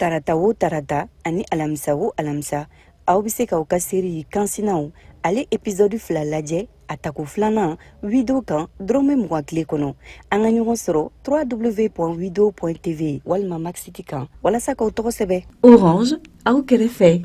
tarata o tarata ani alamisa o alamisa aw bɛ se k'aw ka seri kansinaw ale episode fila lajɛ a tako filanan wido kan dɔrɔmɛ mugan tile kɔnɔ an ka ɲɔgɔn sɔrɔ www wido tv walima maxiti kan walasa k'aw tɔgɔ sɛbɛ orange aw kɛrɛfɛ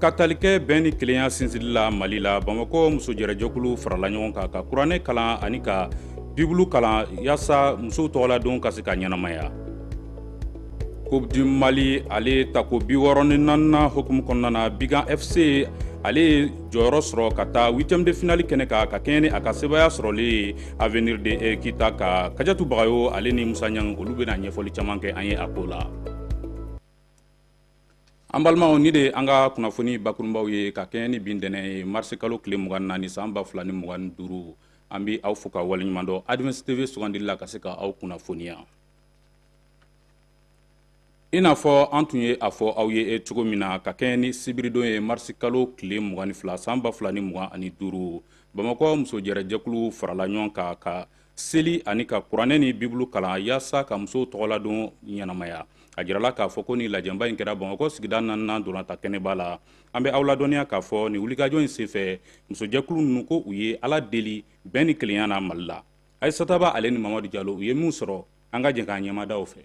ka tali kɛ bɛn ni kelenya sinsinli la mali la bamakɔ musojɛrɛjɛkulu farala ɲɔgɔn kan ka kuranɛ kalan ani ka bibulu kalan yaasa musow tɔgɔladon ka se ka ɲɛnamaya coupe du mali ale tako bi wɔɔrɔ ni naaninan hukumu kɔnɔna na binga fc ale ye jɔyɔrɔ sɔrɔ ka taa huitième de finali kɛnɛ kan ka kɛɲɛ ni a ka sebaya sɔrɔli ye avenir de eh, kita kan kajatu bagayo ale ni musa ɲang olu bɛna ɲɛfɔli caman kɛ an ye a ko la an balimaw nin de an ka kunnafoni bakurunbaw ye ka kɛɲɛ ni bi ntɛnɛn ye marisi kalo tile mugan ni naani san ba fila ni mugan ni duuru an bɛ aw fo ka waleɲuman dɔn advance tv sugandili la ka se ka aw kunnafoniya i n'a fɔ an tun ye a fɔ aw ye cogo min na ka kɛɲɛ ni sibiridon ye marisi kalo tile mugan ni fila san ba fila ni mugan ani duuru bamakɔ musojɛrɛjɛkulu farala ɲɔgɔn kan ka seli ani ka kuranɛ ni bibulu kalan yaasa ka musow tɔgɔladon ɲɛnamaya a jirala k'a fɔ ko nin lajɛba in kɛra bamakɔ sigida naaninan ntolatan kɛnɛba la an bɛ aw ladɔnniya k'a fɔ nin wulikajɔ in senfɛ musojɛkulu ninnu ko u ye ala deli bɛn ni kelenya na mali la ayisata ba ale ni mamadu jalo u ye min sɔrɔ an ka jɛn k'an ɲɛ mada o fɛ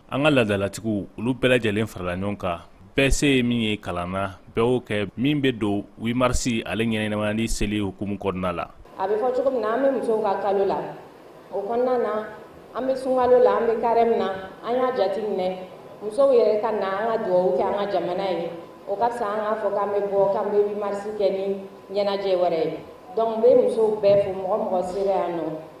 an ka ladalatigiw olu bɛɛ lajɛlen farala ɲɔgɔn kan bɛɛ se ye min ye kalan na bɛɛ y'o kɛ min bɛ don wimarisi ale ɲɛnamayali seli hukumu kɔnɔna la a bɛ fɔ cogo min na an bɛ musow ka kalo la o kɔnɔna na an bɛ sunkalo la an bɛ carême na an y'a jati minɛ musow yɛrɛ ka na an ka dugawu kɛ an ka jamana ye o ka fisa an k'a fɔ k'an bɛ bɔ k'an bɛ wimarisi kɛ ni ɲɛnajɛ wɛrɛ ye donc n bɛ musow bɛɛ fo mɔgɔ mɔgɔ sera yan nɔ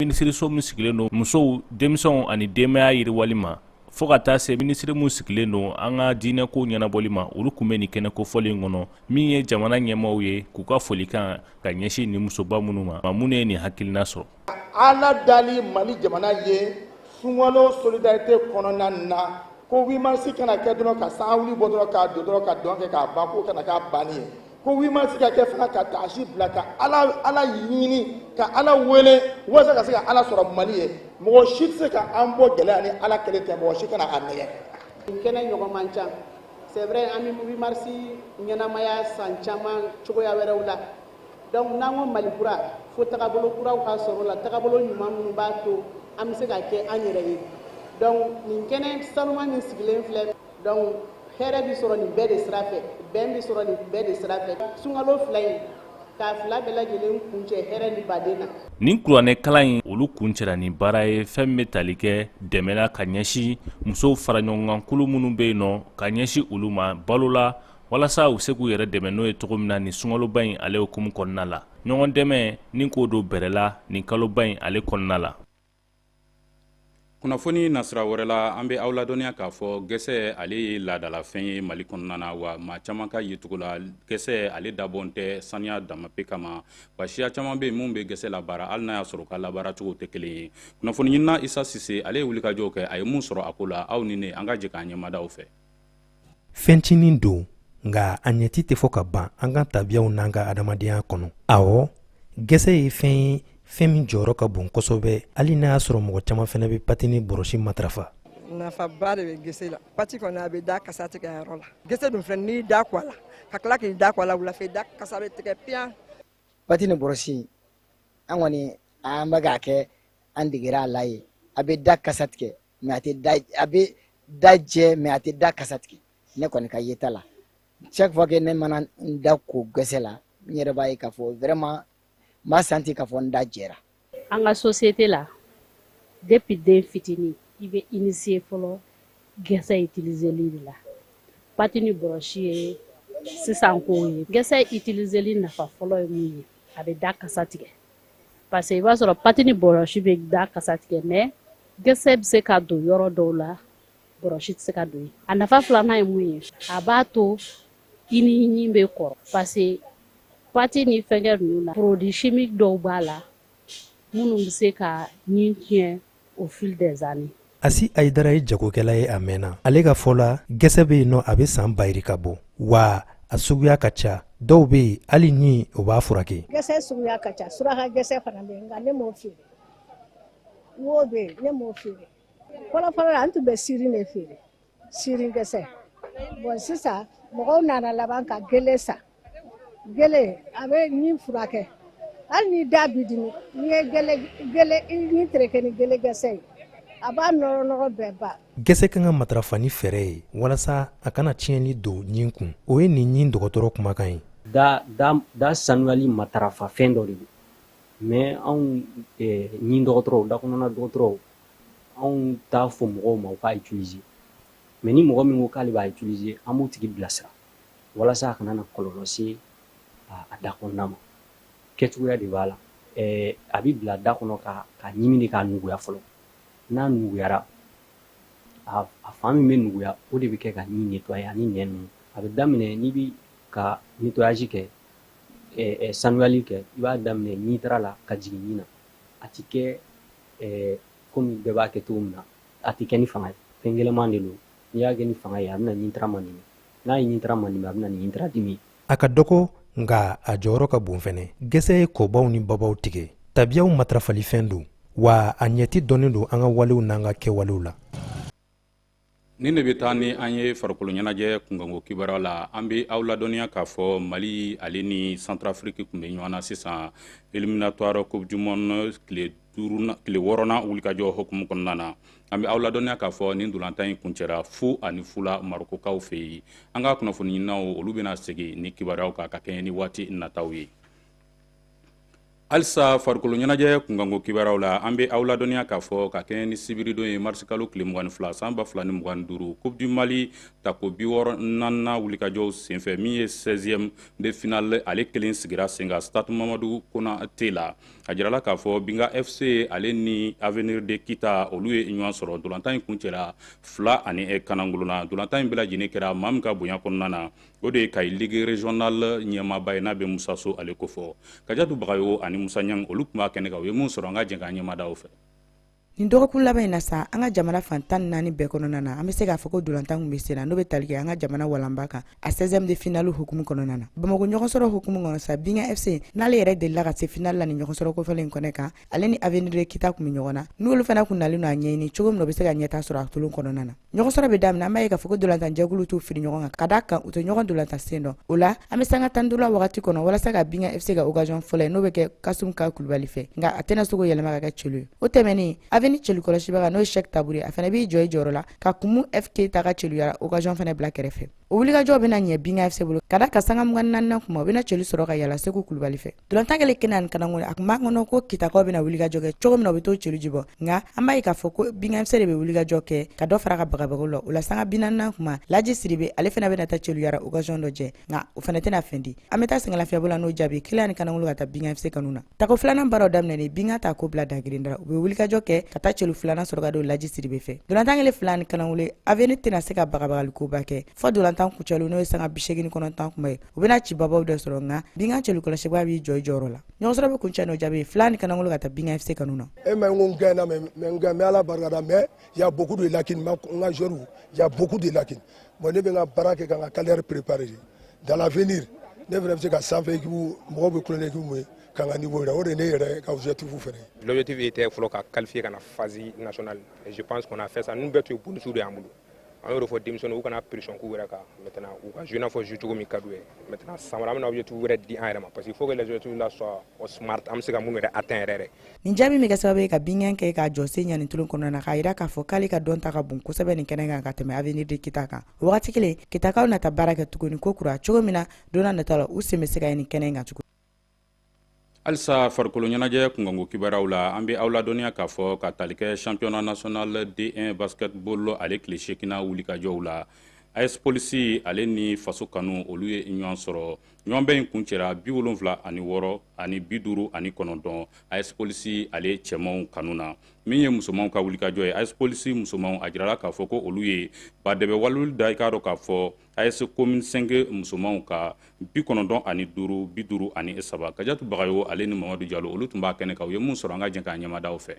Minisiriso min sigilen don musow denmisɛnw ani denbaya yiriwali ma fo ka taa se minisiri min sigilen don an ka diinɛko ɲɛnabɔli ma olu tun bɛ nin kɛnɛ kofɔlen in kɔnɔ min ye jamana ɲɛmaaw ye k'u ka folikan ka ɲɛsin nin musoba minnu ma ma minnu ye nin hakilina sɔrɔ ala dali mali jamana ye sunkalo solidarité kɔnɔna na ko wimarisi kana kɛ dɔrɔn ka san wuli bɔ dɔrɔn k'a don dɔrɔn ka dɔn kɛ k'a ban k'o kana k'a banni ye ko wimarisi ka kɛ fana ka taasi bila ka ala ɲini ka ala wele walasa ka se ka ala sɔrɔ mali ye mɔgɔ si tɛ se ka an bɔ gɛlɛya ni ala kelen tɛ mɔgɔ si kana a nɛgɛn nin kɛnɛ ɲɔgɔn man ca c'est vrai an bɛ wimarisi ɲɛnamaya san caman cogoya wɛrɛw la donc n'an ko mali kura fo tagabolo kuraw ka sɔrɔ la tagabolo ɲuman minnu b'a to an bɛ se ka kɛ an yɛrɛ ye donc nin kɛnɛ saniman min sigilen filɛ donc hɛrɛ bi sɔrɔ nin bɛɛ de sira fɛ bɛn bi sɔrɔ nin bɛɛ de sira fɛ sunkalo fila in k'a fila bɛɛ lajɛlen kuncɛ hɛrɛ ni badenya nin kuranɛ kalan in olu kuncɛra ni baara ye fɛn min bɛ tali kɛ dɛmɛ la ka ɲɛsin musow faraɲɔgɔnkan kulu minnu bɛ yen nɔ ka ɲɛsin olu ma balo la walasa u se k'u yɛrɛ dɛmɛ n'o ye cogo min na nin sunkaloba in ale hukumu kɔnɔna la ɲɔgɔn dɛmɛ ni k'o don bɛrɛ la nin kaloba in ale kɔnɔna la kunnafoni nasira wɛrɛ la an bɛ aw ladɔnniya k'a fɔ gɛsɛ ale ye laadalafɛn ye mali kɔnɔna na wa maa caman ka yecogo la gɛsɛ ale dabɔn tɛ saniya dama pe kama wa siya caman bɛ yen minnu bɛ gɛsɛ labaara hali n'a y'a sɔrɔ u ka labaaracogo tɛ kelen ye kunnafoni ɲinina isa sise ale ye wulikajɔw kɛ a ye mun sɔrɔ a ko la aw ni ne an ka jɛ k'an ɲɛmada u fɛ fɛn cinin don nka a ɲɛci tɛ fɔ ka ban an ka tabiyaw n'an ka adamadenya kɔnɔ awɔ gɛsɛ ye fɛn ye fɛn min jɔyɔrɔ ka bon kosɛbɛ hali n'a y'a sɔrɔ mɔgɔ caman fana bɛ pati ni bɔrɔsi matarafa nafaba de bɛ gɛsɛ la pati kɔni a bɛ da kasa tigɛ yɔrɔ la gɛsɛ dun filɛ n'i da ko a la ka tila k'i da ko a la wulafɛ da kasa bɛ tigɛ piyan pati ni bɔrɔsi an kɔni an bɛ k'a kɛ an degera a la ye a bɛ da kasa tigɛ mais a tɛ da a bɛ da jɛ mais a tɛ da kasa tigɛ ne kɔni ka yeta la chaque fois que ne mana n da ko gɛsɛ la n yɛrɛ b'a ye k'a fɔ vraiment n b'a sentir k'a fɔ n da jɛra an ka société la depuis den fitinin i bɛ initier fɔlɔ gɛsɛ utiliseli de la pati ni bɔrɔsi ye sisan kow ye gɛsɛ utiliseli nafa fɔlɔ ye mun ye a bɛ da kasa tigɛ parce que i b'a sɔrɔ pati ni bɔrɔsi bɛ da kasa tigɛ mais gɛsɛ bɛ se ka don yɔrɔ dɔw la bɔrɔsi tɛ se ka don yen a nafa filanan ye mun ye a b'a to i ni ɲin bɛ kɔrɔ parce que pati ni fɛnkɛ ninnu na produit chimique dɔw b'a la minnu bɛ se ka ɲin tiɲɛ au fil des années asi ayidara ye jagokɛla ye a mɛnna ale ka fɔ la gɛsɛ bɛ yen nɔ a bɛ san bayiri ka bɔ wa a suguya ka ca dɔw bɛ yen hali ɲin o b'a furakɛ gɛsɛ suguya ka ca suraka gɛsɛ fana bɛ yen nka ne m'o feere wo bɛ yen ne m'o feere fɔlɔfɔlɔ la an tun bɛ siri de feere sirin gɛsɛ bon sisan mɔgɔw nana laban ka gele san gele a bɛ ɲin furakɛ hali ni da bi dimi n'i ye gele gele i ɲin tereke ni gele gɛsɛ ye a b'a nɔrɔ nɔgɔ bɛɛ ban gɛsɛ kan ka matarafa ni fɛɛrɛ ye walasa a kana tiɲɛni don ɲin kun o ye nin ɲin dɔgɔtɔrɔ kumakan ye da da da sanuyali matarafa fɛn dɔ de don mais anw eh, ɲin dɔgɔtɔrɔw dakɔnɔna dɔgɔtɔrɔw anw t'a fɔ mɔgɔw ma u k'a utiliser mais ni mɔgɔ min ko k'ale b'a utiliser an b'o tigi bilasira walasa a kana na kɔlɔlɔ se a da kɔnɔna ma kɛcogoya de b'a la a bɛ bila da kɔnɔ k'a ɲimi de k'a nuguya fɔlɔ n'a nuguyara a fan min bɛ nuguya o de bɛ kɛ ka ɲin nettoyer ani nɛn ninnu a bɛ daminɛ n'i bɛ ka nettoyage kɛ sanuyali kɛ i b'a daminɛ ɲintara la ka jigin ɲin na a tɛ kɛ ɛɛ komi bɛɛ b'a kɛ cogo min na a tɛ kɛ ni fanga ye fɛn gɛlɛman de don n'i y'a kɛ ni fanga ye a bɛna ɲintara manimi n'a ye ɲintara manimi a bɛna ni ɲintara dimi a ka dɔgɔ nka a jɔyɔrɔ ka bon fɛnɛ gɛsɛ ye kɔbaw ni babaw tigɛ tabiyaw matarafalifɛn don wa a ɲɛci dɔnnen don an ka walew n'an ka kɛwalew la nin de bɛ taa ni an ye farikolo ɲɛnajɛ kunkanko kibaruya la an bɛ aw ladɔnniya k'a fɔ mali ale ni centrafrique tun bɛ ɲɔgɔn na sisan éliminatoire coupe du monde tile wɔɔrɔnan wulikajɔ hukumu kɔnɔna na an bɛ aw ladɔnniya k'a fɔ nin dolantan in kuncɛra fu ani fu la marokokaw fɛ yen an ka kunnafoni ɲininaw olu bɛna segin ni kibaruyaw kan ka kɛɲɛ ni waati nataw ye halisa farikolo ɲɛnajɛ kunkanko kibaruyaw la an bɛ aw ladɔnniya k'a fɔ ka kɛɲɛ ni sibiridon ye marisikalo tile mugan ni fila san ba fila ni mugan ni duuru coupe du mali tako bi wɔɔrɔ naaninan wulikajɔw senfɛ min ye 16e de finale ale kelen sigira sen kan stade mamadu konate la a jirala k'a fɔ binga fc ale ni avenir de kita olu ye ɲɔgɔn sɔrɔ dolantan in kuncɛla fila ani kanangolo na dolantan in bɛɛ lajɛlen kɛra maa min ka bonya kɔnɔna na o de ye kayi ligue régionale ɲɛmaaba ye n'a bɛ musa so ale kɔfɛ kajatu bagayo ani musa ɲang olu tun b'a kɛnɛ kan u ye min sɔrɔ an ka jɛn k'an ɲɛ mada o fɛ nin dɔgɔkun laban in na sa an ka jamana fan tan ni naani bɛɛ kɔnɔna na an bɛ se k'a fɔ ko dolantan kun bɛ sen na n'o bɛ tali kɛ an ka jamana walanba kan a 16e de finale hukumu kɔnɔna na bamako ɲɔgɔnsɔrɔ hukumu kɔnɔ sa binga fc n'ale yɛrɛ delila ka se finale la nin ɲɔgɔnsɔrɔ kofɔlen in kɛnɛ kan ale ni avenir de kita kun bɛ ɲɔgɔn na n'olu fana kun nalen don a ɲɛɲini cogo min na u bɛ se ka ɲɛtaa sɔrɔ a tolon kɔnɔna na ɲɔgɔnsɔrɔ bɛ daminɛ an b'a ye k'a fɔ ko dolantanjɛkulu t'u firi ɲɔgɔn kan ka d'a kan u tɛ ɲɔgɔn dolantan sen dɔn o la an bɛ sanga tan ni duuru la wagati kɔnɔ walasa ka binga fc ka occasion fɔlɔ ye n'o bɛ kɛ kasum ka kulubali fɛ nka a tɛna se k'o yɛlɛma ka kɛ celu ye o tɛmɛnen avenir celukɔlɔsibaga n'o ye sɛk tabure ye a fana b'i jɔ i jɔyɔrɔ la ka kumu fk ta ka celuyara occasion fana bila kɛrɛfɛ o wulikajɔ bɛna ɲɛ binga fc bolo ka d'a kan sanga mugan ni naaninan kuma o bɛna celu sɔrɔ ka yala seku kulubali fɛ dolantan kɛlen kelen ani kanangolo a tun b'a kɔnɔ ko kitakaw bɛna wulikajɔ kɛ cogo min na u bɛ t'o celu jibɔ nka an b'a ye k'a fɔ ko binga fc de bɛ wulikajɔ kɛ ka dɔ fara ka bagabagaw la o la sanga bi naaninan kuma laji siribe ale fana bɛna ta celuyara occasion dɔ jɛ nka o fana tɛna fɛn di an bɛ taa sɛgɛnlafiyɛbɔ la n'o jaabi kelen ani kanangolo ka taa binga fc kanu na Tako filanan baaraw daminɛnen Binga ta ko bila dagrin da u bɛ wulikajɔ kɛ ka taa celu filanan sɔrɔ ka don laji siribe fɛ ntolatan kɛlen fila ni kanangolo Avenir tɛna se ka bagabagalikoba kɛ fɔ ntolatan kuncɛli n'o ye sanga bi segin ni kɔnɔntɔn tuma ye u bɛna cibabaw de sɔrɔ nka Binga celu kɔlɔsibaa b'i jɔ i jɔyɔrɔ la ɲɔgɔnsɔrɔ bɛ kuncɛ n'o jaabi fila ni kanangolo ka taa Binga FC kanu na e ma ko gɛn na mais ala barika da mais y a beaucoup de lacunes n ka joueurw y a beaucoup de lacunes bon ne bɛ n ka baara kɛ ka n ka carrière préparer Dans l'avenir, ne fana bɛ se ka sanfɛ ekipu mɔgɔw bɛ kulonkɛ ekipu mun ye ka n ka niveau jira o de ye ne yɛrɛ ka objectif fana ye. L'objectif était fɔlɔ ka qualifier ka na phase nationale et je pense qu'on a fait ça ninnu bɛɛ tun ye bonus de y'an bolo an y'o de fɔ denmisɛnninw u kana pression k'u yɛrɛ kan maintenant u ka jouer i n'a fɔ jouer cogo min ka d'u ye maintenant san wɛrɛ an bɛna objectif wɛrɛ di an yɛrɛ ma parce qu'il faut que les objectifs là soient smart an bɛ se ka minnu yɛrɛ atteindre yɛrɛ. Nin jaabi bɛ kɛ sababu ye ka Binga kɛ k'a jɔsen ɲa nin tulon kɔnɔna na k'a jira k'a fɔ k'ale ka dɔnta ka bon kosɛbɛ nin kɛnɛ kan ka tɛmɛ Avenir de Kita kan. wagati kelen kitakaw na taa baara kɛ tuguni ko kura cogo min na don nata la u sen bɛ se ka ye nin kɛnɛ in kan tuguni halisa farikolo ɲɛnajɛ kunkanko kibaruyaw la an bɛ aw ladɔnniya k'a fɔ ka tali kɛ championnat national d1 basketball ale tile seeginnan wulikajɔw la as polisi ale ni faso kanu olu ye ɲɔgɔn sɔrɔ ɲɔgɔnbɛn in kuncɛra bi wolonfila ani wɔɔrɔ ani bi duuru ani kɔnɔntɔn as polisi ale cɛmanw kanu na min ye musomanw ka wulikajɔ ye as polisi musomanw a jirala k'a fɔ ko olu ye badɛbɛ waluli da i k'a dɔn k'a fɔ as commune cinq musomanw kan bi kɔnɔntɔn ani duuru bi duuru ani saba kajatu bagayo ale ni mamadu jalo olu tun b'a kɛnɛ kan u ye mun sɔrɔ an ka jɛn k'a ɲɛmadaw fɛ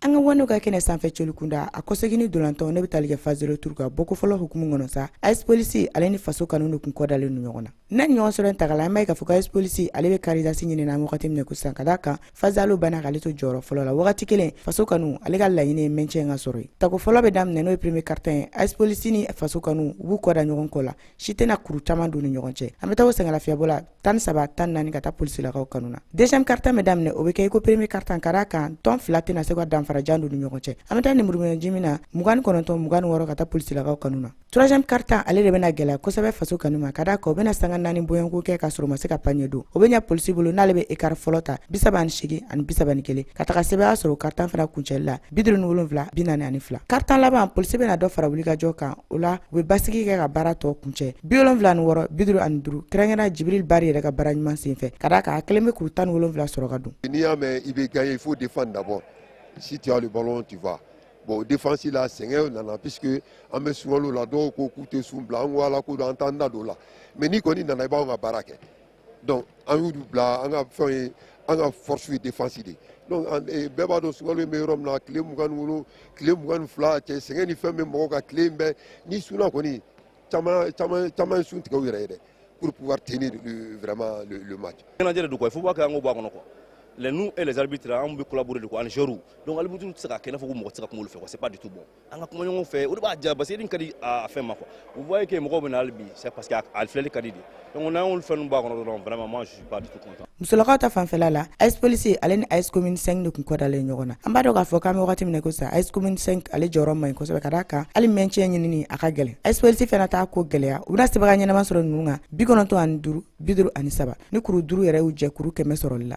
an ka waniw ka kɛnɛ sanfɛ celu kunda a kɔsegini dolantɔ ne bɛ tali kɛ phase retour ka bɔko fɔlɔ hukumu kɔnɔ sa as polisi ale ni faso kanu de tun kɔdalen don ɲɔgɔn na na nin ɲɔgɔnsɔrɔ taga la an b'a ye k'a fɔ ko as polisi ale bɛ carré d'as ɲini na wagati min ko sisan ka d'a kan phase aller banna k'ale to jɔyɔrɔ fɔlɔ la wagati kelen faso kanu ale ka laɲini ye maintien ka sɔrɔ ye tako fɔlɔ bɛ daminɛ n'o ye premier quart temps ye as polisi ni faso kanu u b'u kɔda ɲɔgɔn kɔ la si tɛna kuru caman don ni ɲɔgɔn cɛ an bɛ taa o sɛgɛnlafiyɛbɔ la tan ni saba tan ni naani ka taa polisilakaw kanu na deuxième quart temps bɛ daminɛ o bɛ kɛ i ko premier quart temps ka d'a kan tɔn fila tɛna se ka danfarajan don ni ɲɔgɔn cɛ an bɛ taa nimuruminɛji min na mugan ni kɔnɔntɔn mugan ni wɔɔrɔ ka taa polisilakaw kanu na Troisième quart temps ale de bɛna gɛlɛya kosɛbɛ faso kanu ma ka d'a kan u bɛna sanga naani bɔɲɔgɔnko kɛ k'a sɔrɔ u ma se ka panier don o bɛ ɲɛ polisi bolo n'ale bɛ écart fɔlɔ ta bi saba ni seegin ani bi saba ni kelen ka taga sɛbɛya sɔrɔ o quart temps fana kuncɛli la bi duuru ni wolonfila bi naani ani fila quart temps laban polisi bɛna dɔ fara wulikajɔ kan o la u bɛ basigi kɛ ka baara tɔ kuncɛ bi wolonfila ni wɔɔrɔ bi duuru ani duuru kɛrɛnkɛrɛnna jibril bari yɛrɛ ka baara ɲuman sen fɛ ka d'a kan a kelen bɛ kuru tan ni wolonfila sɔrɔ ka don n'i y'a mɛn i bɛ gagner il faut défendre d'abord si tu as le ballon tu vas bon défense la sɛgɛn nana puisque an bɛ sunkalo la dɔw ko k'u tɛ sun bila an ko ala ko don an t'an da don o la mais n'i kɔni nana i b'anw ka baara kɛ donc an y'u bila an ka fɛnw ye an ka force ye défense de donc eh, bɛɛ b'a dɔn sunkalo in bɛ yɔrɔ min na tile mugan ni wolo tile mugan ni fila cɛ sɛgɛn ni fɛn bɛ mɔgɔw kan tile in bɛɛ n'i sunna kɔni caman caman caman ye sun tigɛ u yɛrɛ ye dɛ pour pouvoir tenir le, vraiment le, le match. Ɲɛnajɛ de don quoi, il faut pas k'an k'o bɔ a kɔnɔ quoi. Les nous et les arbitres an bɛ collaborer de quoi ani joueurs donc arbitre tɛ se ka kɛ i n'a fɔ ko mɔgɔ tɛ se ka kuma olu fɛ quoi c'est pas du tout bon. An ka kuma ɲɔgɔn fɛ o de b'a diya parce que nin ka di a fɛn ma quoi. Vous voyez que mɔgɔw bɛ na hali bi c'est parce que a filɛli ka di de donc n'an y'olu fɛn ninnu bɔ a kɔnɔ dɔrɔn vraiment moi musolakaw ta fanfɛla la AS police ale ni AS commune 5 de kun kɔdalen ɲɔgɔn na an b'a dɔn k'a fɔ k'an bɛ wagati min na ko sa AS commune 5 ale jɔyɔrɔ man ɲi kosɛbɛ ka d'a kan hali maintien ɲinini a ka gɛlɛn AS police fana t'a ko gɛlɛya u bɛna sebaga ɲɛnama sɔrɔ ninnu kan bi kɔnɔntɔn ani duuru bi duuru ani saba ni kuru duuru yɛrɛ y'u jɛ kuru kɛmɛ sɔrɔli la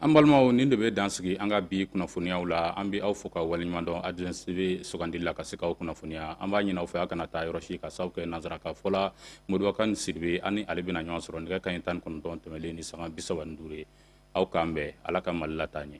an balimaw nin de bɛ dansigi an ka bi kunnafoniyaw la an bɛ aw fo ka waleɲuman dɔn adrɛsi bɛ sugandili la ka se k'aw kunnafoniya an b'a ɲini aw fɛ aw kana taa yɔrɔ si ka sababu kɛ nanzarakan fɔla modibo kane sidibe ani ale bɛna ɲɔgɔn sɔrɔ nɛgɛ kanɲɛ tan ni kɔnɔntɔn tɛmɛlen ni sanga bi saba ni duuru ye aw k'an bɛn ala ka mali lataa ɲɛ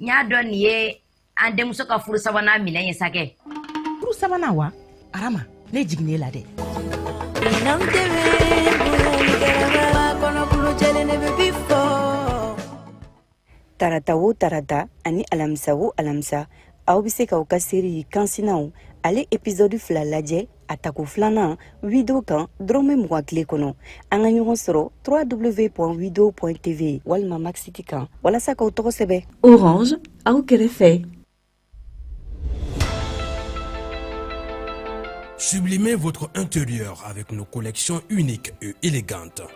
n y'a dɔn nin ye an denmuso ka furu sabanan minɛ ye sakɛ furu sabanan wa arama ne jiginne la dɛ tarata wo tarata ani alamisa wo alamisa aw bɛ se k'aw ka seri kansinaw ale episɔdu fila lajɛ a tako filanan wido kan dɔrɔmɛ mugan tile kɔnɔ an ka ɲɔgɔn sɔrɔ www.wido.tv walima max it kan walasa k'aw tɔgɔ sɛbɛ orange aw kɛrɛfɛ Sublimez votre intérieur avec nos collections uniques et élégantes.